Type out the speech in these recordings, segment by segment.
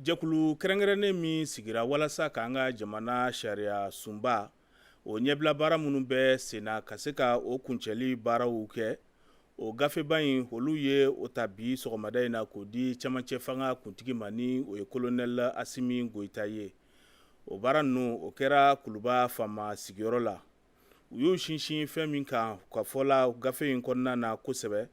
jɛkulu kɛrɛnkɛrɛnnen min sigira walasa k'an ka jamana sariya sunba o ɲɛbila baara minnu bɛ sen na ka se ka o kuncɛli baaraw kɛ o gafeba in olu ye o ta bi sɔgɔmada in na k'o di camancɛ fanga kuntigi ma ni o ye kolonɛli asimi goyita ye o baara ninnu o kɛra kuluba faama sigiyɔrɔ la u y'u sinsin fɛn min kan ka fɔla gafe in kɔnɔna na kosɛbɛ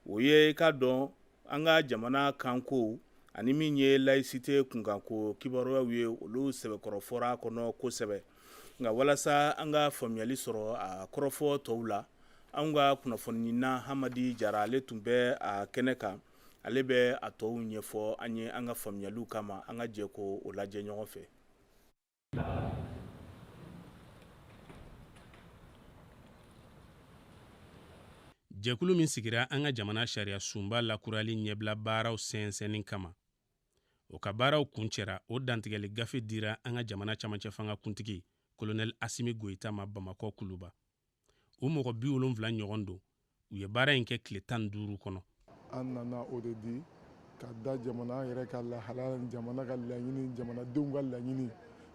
o ye i k'a dɔn an ka jamana kanko ani min ye layisite kunkanko kibaruyaw ye olu sɛbɛkɔrɔ fɔr'a kɔnɔ kosɛbɛ nka walasa an ka faamuyali sɔrɔ a kɔrɔfɔ tɔw la an ka kunnafonina hamadi jara ale tun bɛ a kɛnɛ kan ale bɛ a tɔw ɲɛfɔ an ye an ka faamuyaliw kama an ka jɛ ko o lajɛ ɲɔgɔn fɛ jɛkulu min sigira an ka jamana sariya sunba lakurali ɲɛbila baaraw sɛnsɛnni kama o ka baaraw kuncɛra o dantigɛli gafe dira an ka jamana camancɛ fanga kuntigi kolonɛli asimi goyita ma bamakɔ kuluba o mɔgɔ bi wolonwula ɲɔgɔn don u ye baara in kɛ tile tan duuru kɔnɔ an nana o de di ka da jamana yɛrɛ ka lahalaya ni jamana ka laɲini jamanadenw ka laɲini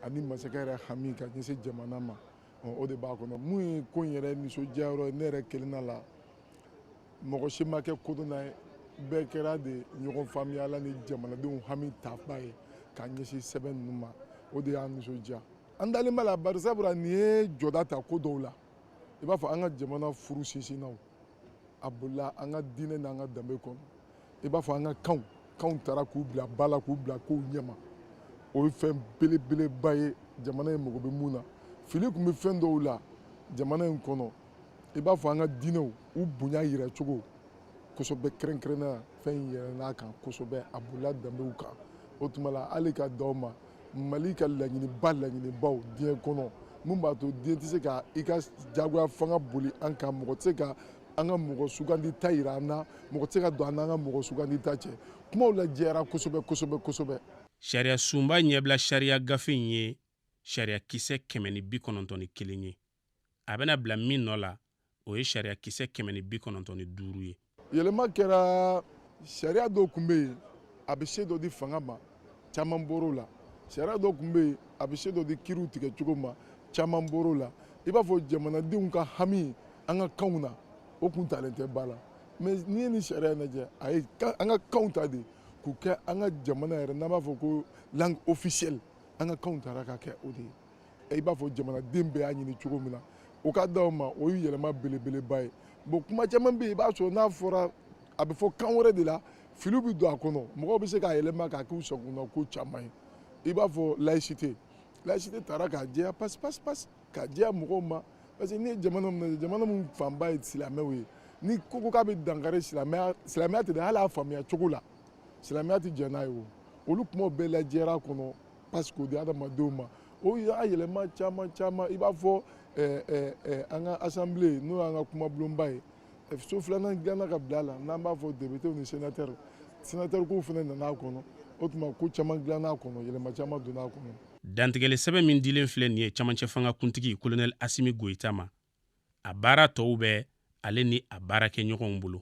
ani masakɛ yɛrɛ hami ka ɲɛsin jamana ma o de b'a kɔnɔ mun ye ko in yɛrɛ nisɔndiyayɔrɔ ye ne yɛrɛ kelenna la mɔgɔ si ma kɛ kodɔnna ye bɛɛ kɛra de ɲɔgɔn faamuyala ni jamanadenw hami taba ye ka ɲɛsin sɛbɛn ninnu ma o de y'an nisɔndiya an dalen b'a la bari sabula nin ye jɔda ta ko dɔw la i b'a fɔ an ka jamana furu sinsinna a bolila an ka diinɛ n'an ka danbe kɔnɔ i b'a fɔ an ka kanw kanw taara k'u bila ba la k'u bila kow ɲɛma o ye fɛn belebeleba ye jamana in mago bɛ mun na fili tun bɛ fɛn dɔw la jamana in kɔnɔ i b'a fɔ an ka diinɛw u bonya yira cogo kosɛbɛ kɛrɛnkɛrɛnnenya fɛn in yɛlɛnna a kan kosɛbɛ a bolila danbew kan o tuma la hali ka d'aw ma mali ka laɲiniba laɲinibaw diɲɛ kɔnɔ min b'a to diɲɛ tɛ se ka i ka jagoya fanga boli an kan mɔgɔ tɛ se ka an ka mɔgɔ sugandita yira an na mɔgɔ tɛ se ka don an n'an ka mɔgɔ sugandita cɛ kumaw lajɛyara kosɛbɛ kosɛbɛ kosɛbɛ sariya sunba ɲɛbila sariya gafe in ye sariya kisɛ kɛmɛ ni bi kɔnɔntɔn ni kelen ye a bɛna bila min nɔ la o ye sariya kisɛ kɛmɛ ni bi kɔnɔntɔn ni duuru ye yɛlɛma kɛra sariya dɔw tun bɛ yen a bɛ se dɔ di fanga ma caman bɔr'o la sariya dɔw tun bɛ yen a bɛ se dɔ di kiriw tigɛ cogo ma caman bɔr'o la i b'a fɔ jamanadenw ka hami an ka kanw na o tun talen tɛ ba la mais n'i ye nin sariya lajɛ a ye an ka kanw ta de k'u kɛ an ka jamana yɛrɛ n'an b'a fɔ ko langue officielle an ka kanw taara ka kɛ o de ye i b'a fɔ jamanaden bɛɛ y'a ɲini cogo min na o ka d'aw ma o ye yɛlɛma belebeleba ye bon kuma caman bɛ yen i b'a sɔrɔ n'a fɔra a bɛ fɔ kan wɛrɛ de la filiw bɛ don a kɔnɔ mɔgɔw bɛ se k'a yɛlɛma k'a k'u sagona ko caman ye i b'a fɔ laïcité laïcité taara k'a jɛya pasi pasi pasi k'a jɛya mɔgɔw ma parce que n'i ye jamana min lajɛ jamana min fanba ye silamɛw ye ni ko ko k'a bɛ dankari silamɛya silamɛya tɛ dɛ hali a faamuya cogo la silamɛya tɛ jɛn n'a ye o olu kumaw bɛɛ lajɛra a kɔnɔ parce que o di adamadenw ma o y'a yɛlɛma caman caman i b'a fɔ eh, eh, eh, an ka assemblée n'o y'an ka kumabulonba ye so filanan dilanna ka bila a la n'an b'a fɔ députés ni sénateurs sénateurs kow fana nana a kɔnɔ o tuma ko caman dilanna a kɔnɔ yɛlɛma caman donna a kɔnɔ dantigɛli sɛbɛn min dilen filɛ nin ye camancɛ fanga kuntigi kolonɛli asimi goyita ma a baara tɔw bɛ ale ni a baarakɛɲɔgɔnw bolo